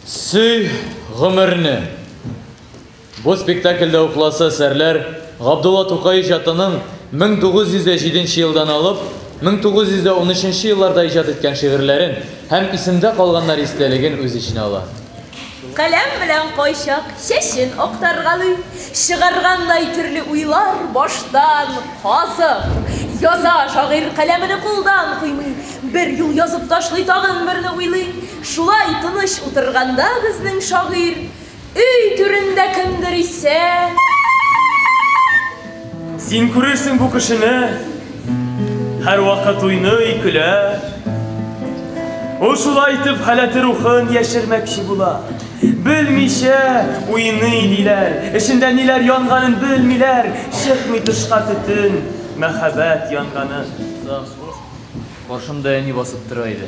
Сөй гомерне. Бу спектакльдә укласы әсәрләр Габдулла Тукай иҗатының 1907 елдан алып 1913 елларда иҗат иткән шигырьләрен һәм исемдә калганнар истәлеген үз эченә ала. Каләм белән кайчак чәчен актаргалый, чыгаргандай төрле уйлар баштан казып яза шагыйрь каләмене кулдан куймый, бер юл язып ташлый тагын берне уйлый, шулай тыныч утырганда безнең шагыйрь өй түрендә кемдер исә. Син күрерсең бу кешене, һәрвакыт уйный, көлә. Ул шулай итеп халәте рухын яшермәкче була. Белмичә уйный диләр, эчендә ниләр янганын белмиләр, чыкмый тышка төтен, мәхәббәт янганы. Каршымда әни басып тора иде.